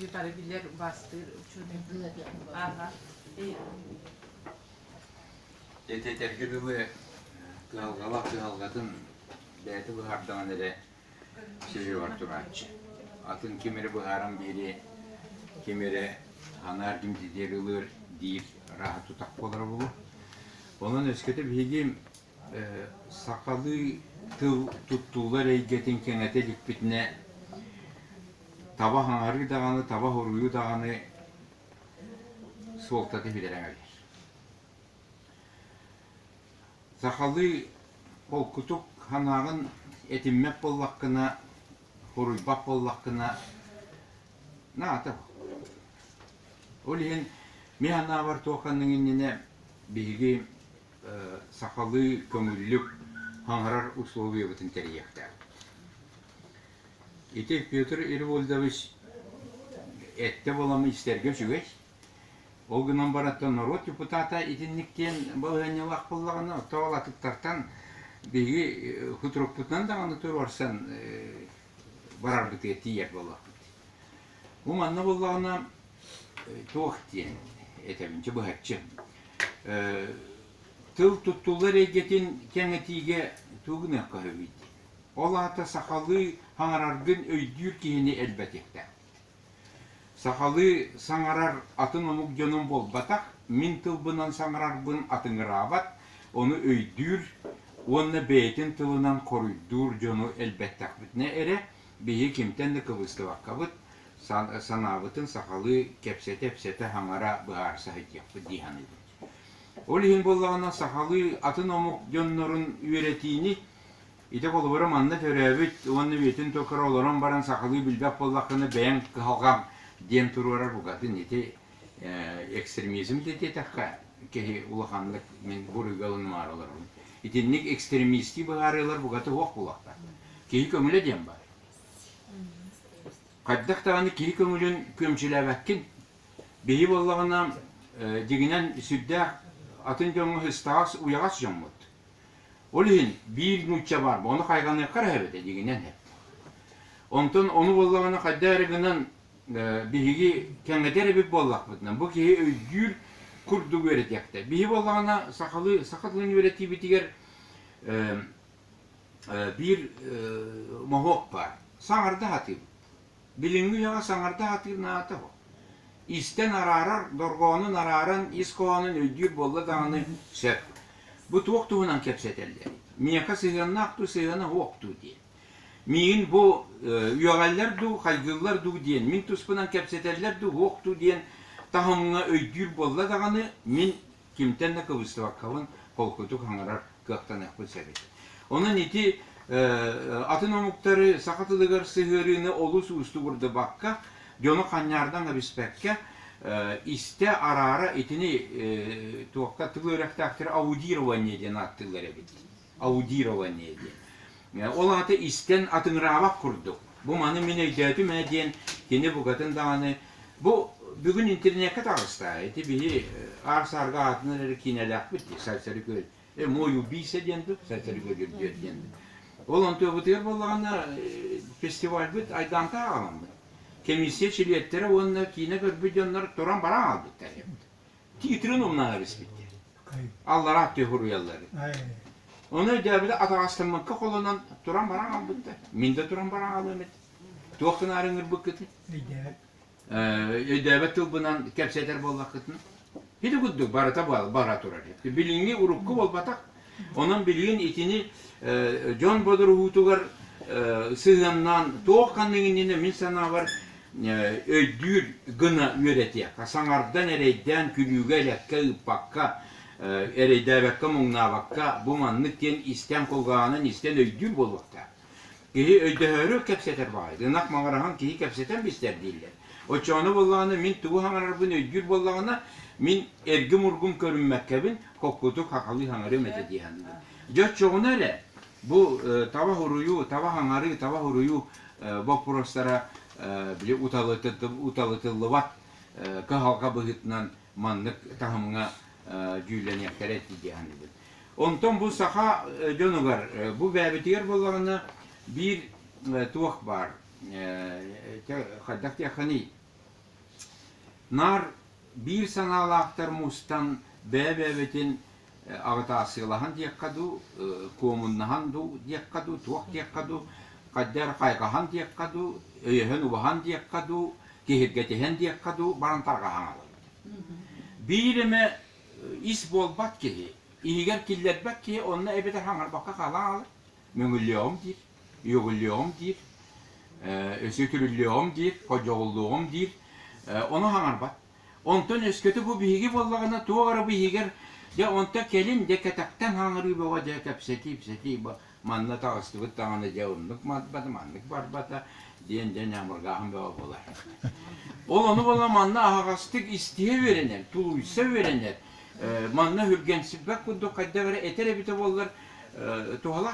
Утары билэр бастыыр учуутал Этэтэргэ дылы кыһалҕалаах кыһалҕатын бэйэтэ быһаардаҕын эрэ сөйүөҕэр турааччы. Атын ким эрэ быһааран биэри, ким эрэ анаар ким титиэр ылыар диир рааһа тутах буолара буолуо. Онон өскөтө биһиги сахалыы тыл туттуллар эйгэтин кэҥэтэ иликпитинэ таба хаҥарыы даҕаны, таба хоруйу даҕаны суолта киһилэрэ эҥэрийэр. Сахалыы холкутук санааҕын этиммэт буоллаххына, хоруйбат буоллаххына, наата Ол иһин, мин санаабар туох иннинэ биһиги сахалыы көҥүллүк хаҥарар условиябытын тэрийиэхтээхпит. Ити Петр Ирвольдович эттэ балам истэргэ үчүгэй. Ол гынан бараттан норуот депутата итинник диэн балаһыанньалаах буллаҕына, тоол атыттартан биһиги хутурукпутунан даҕаны туруорсан барарбытыгар тиийэр болуохпут. Бу манна буоллаҕына туох диэн этэбин, чэ быһаччы. тыл туттуллар эйгэтин кэҥэтиигэ тугу гыныахха сөбүй? Ол аата сахалыы хаҥараргын өйдүүр киһини элбэтиэхтээхпит. Сахалыы саҥарар атын омук дьонун буолбатах, мин тылбынан саҥарарбын атыҥыраабат, ону өйдүүр уонна бэйэтин тылынан хоруйдуур дьону элбэттэхпитинэ эрэ Биһи кимтэн да кыбыыстыбаккабыт, санаабытын сахалыы кэпсэтэ-ипсэтэ хаҥара быһаарса сылдьыахпыт дии саныыбын. Ол иһин буоллаҕына сахалыы атын омук дьоннорун үөрэтиини ити холобура манна төрөөбүт уонна үйэтин туора олорон баран сахалыы билбэт буоллаххына бэйэҥ кыһалҕаҥ диэн туруорар букатын ити экстремизм да диэтэххэ, киһи улаханнык мин буруйгалан умаар олорорум. Итинник экстремистский быһаарыылар бугата уох булахтар. Киһи көмүлэ диэн бар. Хайдах даҕаны киһи көмүлүн күөмчүлээбэккин. Биһи боллаҕына дигинен сүрдээх атын дьоҥҥо ыстаҕас уйаҕас дьоммут. Ол иһин биир нуучча бар, ону хайҕаныахха эбэтэ дигинен эп. Онтон ону боллаҕына хайда эрэ гынан биһиги кэҥэтэр эбит буоллахпытына, бу киһи өйдүүр курдук үөрэтиэхтэ. Биһи буоллаҕына, сахалыы, саха тылын үөрэтиибитигэр биир моһуок баар. Саҥарда сатыыбыт. Билиҥҥи үйэҕэ саҥарда сатыыр наада бу. Истэн араарар, дорҕоонун арааран, ис хоһоонун өйдүүр буолла даҕаны сөп. Бу туох туһунан кэпсэтэллэр? Миэхэ сыһыаннаах дуу, сыһыана суох дуу диэн. Миигин бу үөҕэллэр дуу, хайгыыллар дуу диэн, мин туспунан кэпсэтэллэр дуу, уох дуу диэн таһымҥа өйдүүр буолла даҕаны, мин кимтэн да кыбыстыбаккабын холкутук хаҥарар кыахтаныахпын сөбүт. Онон ити атын омуктары саха тылыгар сыһыарыыны олус уустук урдубакка, дьону ханньаардан эбиспэккэ, истэ араара итини туохха тыл үөрэхтээхтэрэ аудирование диэн ааттыыллар эбит. аудирование диэн. Ол аата истэн атыҥыраабат курдук, бу маны мин өйдөөтүм ээ диэн кини букатын даҕаны бу бүгүн интернекка таҕыста. Ити биһи аар-саарга аатын эрэ киинэлээхпит дии, Сарсары Күөл. Мой убийца диэн дуо? Сарсары Күөл үрдүөр диэн дуо? Ол онтуобутугар буоллаҕына фестивальбыт айдаантан ааламмыт. Комиссия чилиэттэрэ уонна киинэ көрбүт дьоннор туран баран хаалбыттар. Итирин умнаһа биспитти. Аллараа тыа хуруйаллары. Оны өйдөөбүтэ атаҕастаммыкка холонон туран баран албытта. Мин де туран баран алыам эт. Туохтан арыҥырбыккытын. Өйдөөбөт тылбынан кэпсэтэр боллаккытын. Хиди куддук барыта бара турар. Билиҥҥи урукку болбатах Онон билигин итини дьон бодоруһуутугар сыһыаннаан туох ханнык иннинэ мин санаабар өйдүүр гына үөрэтиэххэ, саҥардан, эрэйдээн, күлүүгэ-элэккэ ыыппакка, эрэйдээбэккэ, муҥнаабакка бу маннык диэн истэн кулгаанан истэн өйдүүр буолуохтаах. Киһи өйдөһөөрү кэпсэтэр баҕайы. Ынах маҕараһын киһи кэпсэтэн бистэр дииллэр. Оччоҕуна буоллаҕына, мин тугу хаҥарарбын өйдүүр буоллаҕына, мин эргим-ургум көрүммэккэбин, холкутук хахалыы хаҥарыам этэ дии саныыбын. Дьэ, оччоҕуна эрэ бу э, таба уруйу, таба хаҥарыы, таба уруйу э, боппуруостара э, били уталытыллыбат уталытыллыбат э, кыһалҕа быһыытынан маннык таһымҥа э, дьүүллэниэхтэрэ этии дии саныыбын. Онтон бу саха дьонугар бу бэйэбитигэр буоллаҕына биир туох баар хайдах диэххиний наар биир санаалаахтар мустан бэйэ-бэйэбитин аҕытаассыылаһан диэххэ дуу, куомуннаһан дуу диэххэ дуу, туох диэххэ дуу, хайдах хайҕаһан диэххэ дуу, өйөһөн-убаһан диэххэ дуу, киһиргэтиһэн диэххэ дуу баран тарҕаһан алыбыт. Биир эмэ ис буолбат киһи, иһигэр киллэрбэт киһи онно эбэтэр хаҥарбакка хаалан хаалар. Мөҥүллүөҕүм диир, үөгүллүөҕүм диир, өсүө түрүллүөҕүм диир, ходьоҕуллуоҕум диир, ону хаҥарбат. Онтон өскөтө бу биһиги буоллаҕына туох эрэ бу иһигэр дьэ онто кэлин дьэ кэтэхтэн хаҥырыы бөҕө дьэ кэпсэтии кэпсэтии Манна таҕыстыбыт даҕаны дьэ оннук барбата, маннык барбата диэн дьэ ньамыргааһын бөҕө буолар. Ол ону бола манна аһаҕастык истиһэ үөрэнэр, тулуйса үөрэнэр. Манна үргэнсиппэт курдук хайдах эрэ этэр эбитэ буоллар туһалаах